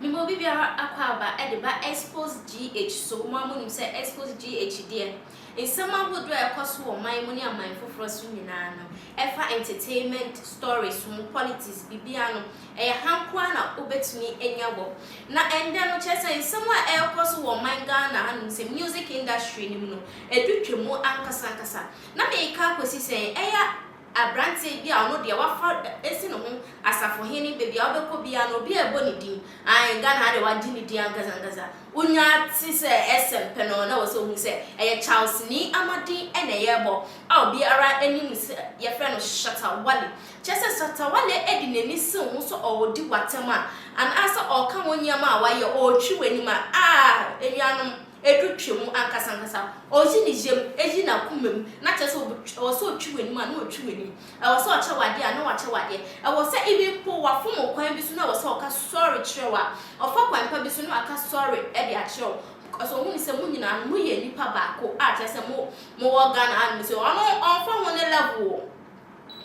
Mema obi biara akwaaba de ba Expose GH so, mo ara monim sɛ Expose GH deɛ, nsɛm ahodoɔ a ɛkɔ so wɔ ɔman mu ne aman foforɔ so nyinaa no, ɛfa entertainment stories ho politics biribiara no ɛyɛ ha nko ara na wobɛtumi anya wɔ na ɛndɛ no kyerɛ sɛ nsɛm a ɛrekɔ so wɔ ɔman Ghana ha nom sɛ music industry no mu no ɛdu twa mu ankasa ankasa na mereka kɔsi sɛn ɛyɛ abranteɛ bi a ɔno deɛ wafa asi ne ho asafohene baabi a wobɛkɔ biara no obi ɛrebɔ ne din ae Ghana ha deɛ wagye ne din ankasa ankasa. wonya te sɛ ɛsɛm pɛ no, na ɛwɔ sɛ wohu sɛ ɛyɛ Charlesni ama din na ɛyɛ rebɔ a obiara nim sɛ wɔfrɛ no Shatta Wale. Kyerɛ sɛ, Shatta Wale de n'ani sen wo so, ɔredi w'atɛm a, anaasɛ ɔreka wo nneɛma a wayɛ, ɔretwi w'anim a, ah, anuanom, edu twa mu ankasankasa. Oyi ne yam, eyi n'akomam, na kyerɛ sɛ, ɛwɔ sɛ ɔtwi w'anim a, na ɔtwi w'anim. Ɛwɔ sɛ ɔkyɛ wo adeɛ a, na wakyɛ wo adeɛ. Ɛwɔ sɛ even mpo wafom wo kwan bi so na ɛwɔ sɛ ɔka sorry kyerɛ wo a, ɔfa kwan pa bi so na waka sorry de akyerɛ wo because ɔhu no sɛ mo nyinaa no moyɛ nnipa baako a kyerɛ sɛ mo mowɔ Ghana ha nom sei. Ɔno ɔmfa ho ne level o,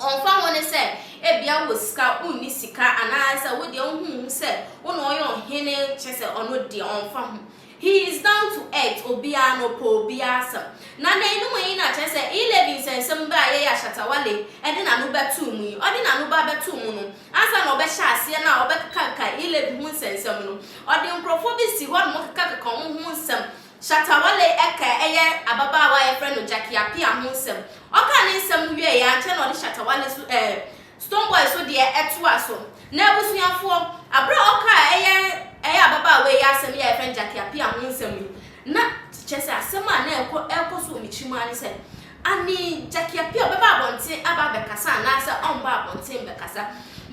ɔmfa ho ne sɛ ebia wowɔ sika, wonni sika anaasɛ wo deɛ wohu wo ho sɛ wo na ɔyɛ ɔhene kyerɛ sɛ ɔno deɛ ɔmfa ho. He is down to earth, obiara no ɔpɛ obiara asɛm. Na dɛn ne mo yi na kyerɛ sɛ E-Levy nsɛnsɛm bɛ a Yaya Shatawale de n'ano bɛtoo mu yi, ɔde n'ano ba bɛtoo mu no, ansa na ɔbɛhyɛ aseɛ na ɔbɛkekakeka E-Levy ho nsɛnsɛm no, ɔde nkorɔfoɔ bi si hɔ nom kekakeka wɔn ho nsɛm. Shatawale ka ɛyɛ ababaawa a yɛfrɛ no Jackie Appiah ho nsɛm. Ɔkaa ne nsɛm no wieeɛ ankyɛ na ɔde Shatawale so ɛɛ Stonebwoy so deɛ ɛtoa so. Na abusuafoɔ, aberɛ a ɔkaa ɛyɛ ɛyɛ ababaawa yi asɛm yi a yɛfrɛ no Gyakye Appiah ho nsɛm yi, na kyerɛ sɛ asɛm a na ɛkɔ ɛrekɔ so wɔ me tirim ara ne sɛ, Ane Gyakye Appiah ɔbɛba abɔnten aba abɛkasa anaasɛ ɔmmbaa abɔnten mmɛkasa?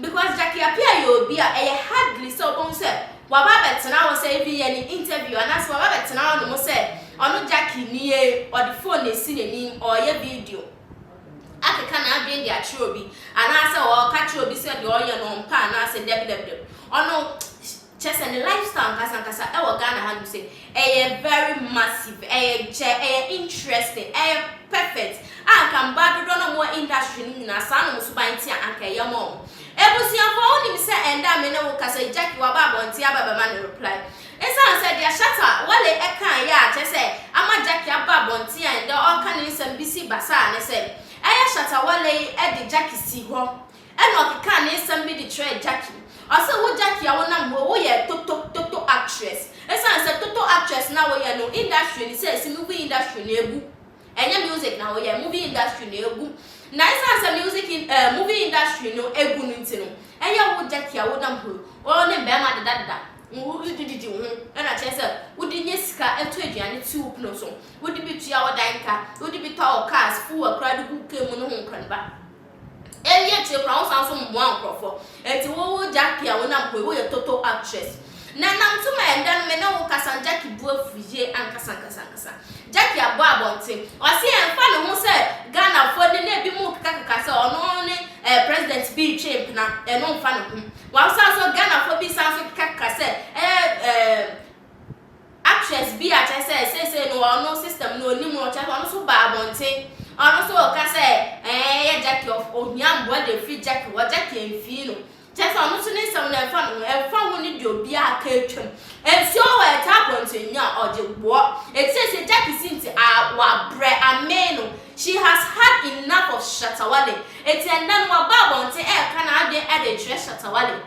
Because Gyakye Appiah yɛ obi a ɛyɛ hardly sɛ wobɛhu sɛ waba abɛtena hɔ sɛ even yɛ ne interview anaasɛ waba abɛtena hɔnom sɛ ɔno Gyakye nie, ɔde phone asi n'anim ɔreyɛ video. akeka n'adwene de akyerɛ obi, anaasɛ ɔreka kyerɛ obi sɛ deɛ ɔreyɛ no ɔmpɛ anaasɛ dɛbdɛbdɛb. Ɔno, kyerɛ sɛ ne lifestyle ankasankasa ɛwɔ Ghana ha nom sɛ ɛyɛ very massive, ɛyɛ gyɛ, ɛyɛ interesting, ɛyɛ perfect a anka mmaa dodoɔ no a wɔwɔ industry nom nyinaa saa nom suban te a anka ɛyɛ ma wɔn. Abusuafoɔ wonim sɛ ɛnnɛ a me ne wo kasa yi Jackie waba abɔnten aba bɛma no reply. Esiane sɛ deɛ Shatta Wale kae yɛ a kyerɛ sɛ ama Jackie aba abɔnten a nnɛ ɔreka ne nsɛm bi si basaa ne sɛ, ɛyɛ Shatta Wale yi de Jackie sii hɔ na ɔkekaa ne nsɛm bi de kyerɛɛ Jackie. Ɔse wo Jackie a wonam hɔ yi woyɛ toto toto actress. Esiane sɛ toto actress na woyɛ no industry no sɛ esi movie industry no abu. Ɛnyɛ music na woyɛ, movie industry no abu. Na esiane sɛ music in eh movie industry no abu no nti no ɛyɛ wo Jackie a wonam hɔ yi wo ne mmarima deda deda. Wo de bi didi ho na kyerɛ sɛ wo de nya sika to aduane to wo pono so, wo de bi tua wo dan ka, wo de bi tɔ wo cars, fu akura de gu car mu ne ho nkɔneba. Eyi akyire koraa wo san nso mmoa nkorɔfoɔ. Enti wo wo Jackie a wo nam ho yi wo yɛ total actress. Na nam nso ma ɛnda no me ne wo kasa no Jackie bo afu yie ankasa ankasa ankasa. Jackie abɔ abɔnten ɔse ɛnfa ne ho sɛ Ghanafoɔ ne na ebi mo keka keka sɛ ɔno ne ɛɛ president bi retwe mpena ɛno nfa ne ho. Wɔsan nso, Ghanafoɔ bi san nso ka ka sɛ ɛyɛ ɛɛm actress bi a kyerɛ sɛ seesei no ɔno system no ɔnim no kyerɛ sɛ ɔno nso baa abɔnten ɔno nso ɔka sɛ ɛɛ ɛyɛ Jackie ɔf ɔhia mmoa de afiri Jackie hɔ Jackie amfii no kyerɛ sɛ ɔno nso ne nsɛm no ɛmfa ne ho ɛmfa ho ne deɛ obiara aka atwam nsuo wɔ ɛtaa abɔnten nyaa ɔgye boɔ eti seesei Jackie si nti aa wabrɛ amee no She has had enough of Shatta Wale enti ɛnnɛ no waba abɔnten ɛreka n'adwene de rekyerɛ Shatta Wale.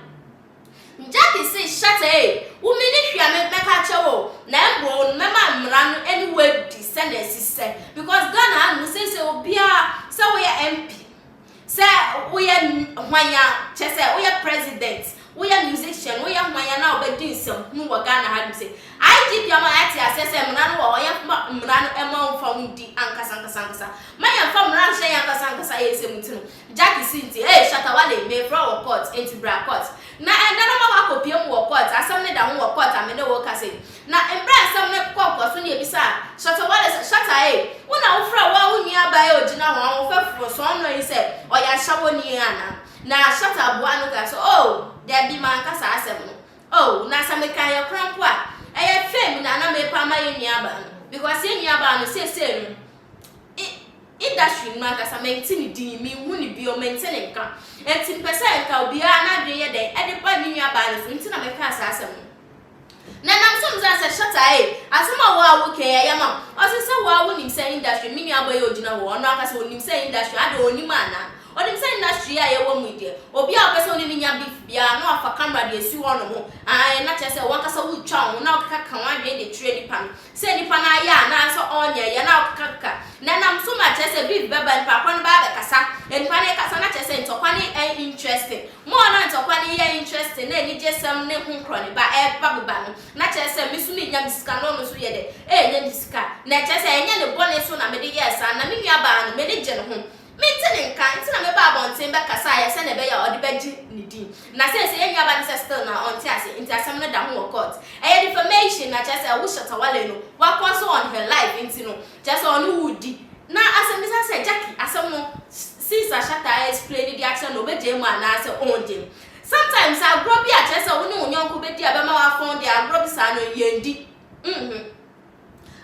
Jackie se Shatta ei, wo menni hwee a mɛka akyerɛ wo na mmom no mɛma mmara no ne wo adi sɛnea ɛsisɛ because Ghana hanom seesei obiara sɛ woyɛ MP, Sɛ woyɛ hwan a, kyerɛ sɛ woyɛ president, woyɛ musician, woyɛ hwan a na wobɛdi nsɛmhunu wɔ Ghana ha nom sɛ IGP ama yɛate aseɛ sɛ mmara no wɔ hɔ, yɛmfa mmara no mma wɔmfa ho ndi ankasa ankasa ankasa. Mma yɛmfa mmara nhyɛ yɛn ankasa ankasa yɛn nsam nti no, Jackie se nti, Hey, Shatta Wale, mefrɛ wo wɔ court, enti bra court. Na ɛnnɛ no ma woakɔpue mu wɔ court, asɛm no da ho wɔ court a me ne wo rekasa yi. Na mbrɛ a nsɛm no kɔ nkɔso na yebisaa Shatta Wale sɛ, Shatta ei, wo na wofrɛ woara wo nuabaa yi a ogyina hɔn ahofɛfo sɔn no yi sɛ ɔyɛ ahyɛwonyi ana? Na Shatta buaa no kaa sɛ, Oh, dabi, mannka saa asɛm no. Oh, na sɛ mekaa yɛ kora mpo a, ɛyɛ fame na na merepa ama yɛn nuabaa no, because yɛn nuabaa no seesei no, i, industry no mu ankasa, mente ne din, mennhu no bio, mente ne nka. Enti mepɛ sɛ nka obiara n'adwene yɛ dɛn de ba ne nuabaa no so, enti na mekaa saa asɛm no. Na nam so mzaa sɛ Shatta ei, asɛm a woa wo kɛn ɛyɛ ma wo? Ɔse sɛ woa wo nim sɛ industry, me nua boy yi ogyina hɔ, ɔno ankasa onim sɛ industry, adɛn onim ana? Onim sɛ industry yi a yɛwɔ mu yi deɛ, obi a ɔpɛ sɛ ɔne no nya beef biara no wafa camera de asi hɔ nom, ae, na kyerɛ sɛ wankasa wotwa wo ho na wokeka ka w'adwene de kyerɛ nipa no, Sɛ nipa no ayɛ anaasɛ ɔnyɛ, yɛ na ɔkekakeka, na ɛnam so ma kyerɛ sɛ biribi bɛba, nipa korɔ no bɛba abɛkasa, nipa no rekasa na kyerɛ sɛ ntɔkwa no yɛ no interesting. More na ntɔkwa no yɛ interesting na anigyesɛm ne ho korɔ no ba, ɛba beba no, na kyerɛ sɛ me nso menya me sika na ɔno nso yɛ dɛ? Ɛrenya ne sika. Na ɛkyerɛ sɛ ɛnyɛ ne bɔne nso na mede yɛɛ saa, na me nuabaa no, m'ani gye ne ho. Mente ne nka, nti na mebaa abɔnten bɛkasaeɛ sɛdeɛ ɛbɛyɛ a ɔde bɛgye ne din. Na seesei yɛn nuaba no sɛ still na ɔnte ase, nti asɛm no da ho wɔ court. Ɛyɛ defamation na kyerɛ sɛ ɛwo Shatta Wale no wakɔ so on her life nti no, kyerɛ sɛ ɔne wo redi. Na asɛmmisa sɛ Jackie asɛm no since a Shatta a explaini de akyerɛ no ɔbɛgyae mu anaa sɛ ɔngyae mu. Sometimes agorɔ bi a kyerɛ sɛ wo ne wo nyɔnko bɛdi a ɛbɛma woafɔn deɛ agorɔ bi saa no yɛndi. Mmhmm.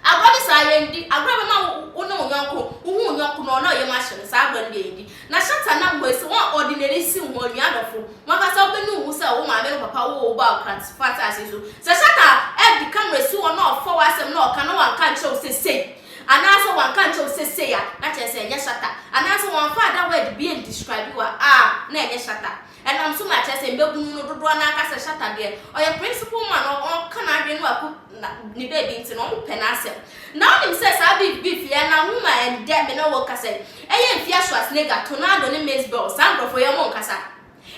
Agorɔ ne saa yɛndi agorɔ ɛbɛma wo wo ne wo yɔnko wo hu wo yɔnko no ɔnɔ yɛm ahyɛ no saa agorɔ no deɛ yɛndi na hyɛ ta nam hɔ esi wɔn ɔde nani si wo ho onua adɔfo wankasa wo bɛnu wo ho sɛ wo maame wo papa woo wo baa okra so fata ase so sɛ hyɛ ta ɛde camera si hɔ na ɔfa wo asɛm na ɔka na wanka nkyerɛ wo sɛ sei anaa sɛ wanka nkyerɛ wo sɛ sei a na kyerɛ sɛ ɛnyɛ hyɛ ta anaa sɛ wanfa ada word bi and describe wo a a na ɛnyɛ hyɛ ta. Ɛnam so ma kyerɛ sɛ mmabunu no dodoɔ no ara ka sɛ Shatta deɛ ɔyɛ principal man a ɔka n'adwene no aku na ne baabi nti no wɔpɛ n'asɛm. Na wonim sɛ saa beef beef yi ɛnam ho ma ɛndɛ me ne wo kasa yi ɛyɛ Mfia Schwarzenegger, Tornado ne Mace Bell saa nkurɔfoɔ yi wɔn nkasa.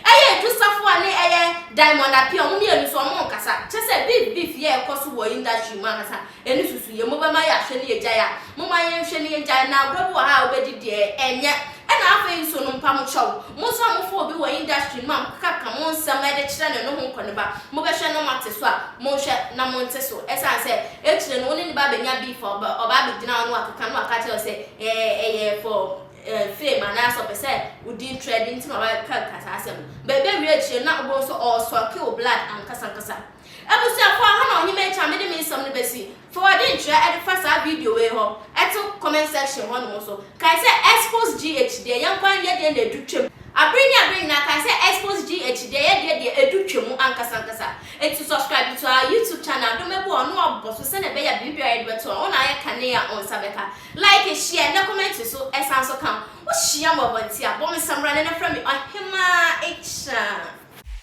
Ɛyɛ Edu Safoa ne ɛyɛ Diamond Appiah wɔn mmienu nso wɔn nkasa. Kyerɛ sɛ beef beef yi a ɛkɔ so wɔ industry mu ankasa Yɛn nsusuiɛ, mobɛma yɛahwɛ ne yɛgyae a, momma yɛnhwɛ ne yɛngyae, na agorɔ bi wɔ ha a wobɛdi deɛ, ɛnyɛ? Ɛna afei nso no mpa mo kyɛw, mo nso a mofa obi wɔ industry no mu a mokekaka mo nsɛm de kyerɛ no no ho nkɔneba, mobɛhwɛ na moate so a, monhwɛ na monte so, ɛsiane sɛ akyire no wo ne ne ba bɛnya beef a, ɔba abɛgyina hɔ na wakeka na waka akyerɛ wo sɛ ɛyɛ for fame anaasɛ ɔpɛ sɛ wo din trɛde nti na wabɛkeka saa asɛm no, bɛbɛwie akyire no na wobɛhu sɛ ɔresucke wo blood ankasankasa. Abusuafo aha na ɔhema akyi a mede me nsɛm no bɛsi. Fa w'adwenkyerɛ de fa saa video wei hɔ to comment section hɔnom nso. Kae sɛ Expose GH deɛ yɛn kwan yɛ deɛ na ɛdu twam. Abere ne abere nyinaa kae sɛ Expose GH deɛ yɛ deɛ deɛ ɛdu twam ankasa ankasa. Enti subscribe to our YouTube channel dɔ mɛbɔ a ɔno abɔ so sɛdeɛ ɛbɛyɛ a biribiara a yɛde bɛto a wo na ayɛ kane a wo nsa bɛka. Like, share na comment nso san so ka ho. Wohyia me wɔ abɔnten a bɔ me samina na frɛ me ɔhema akyi a.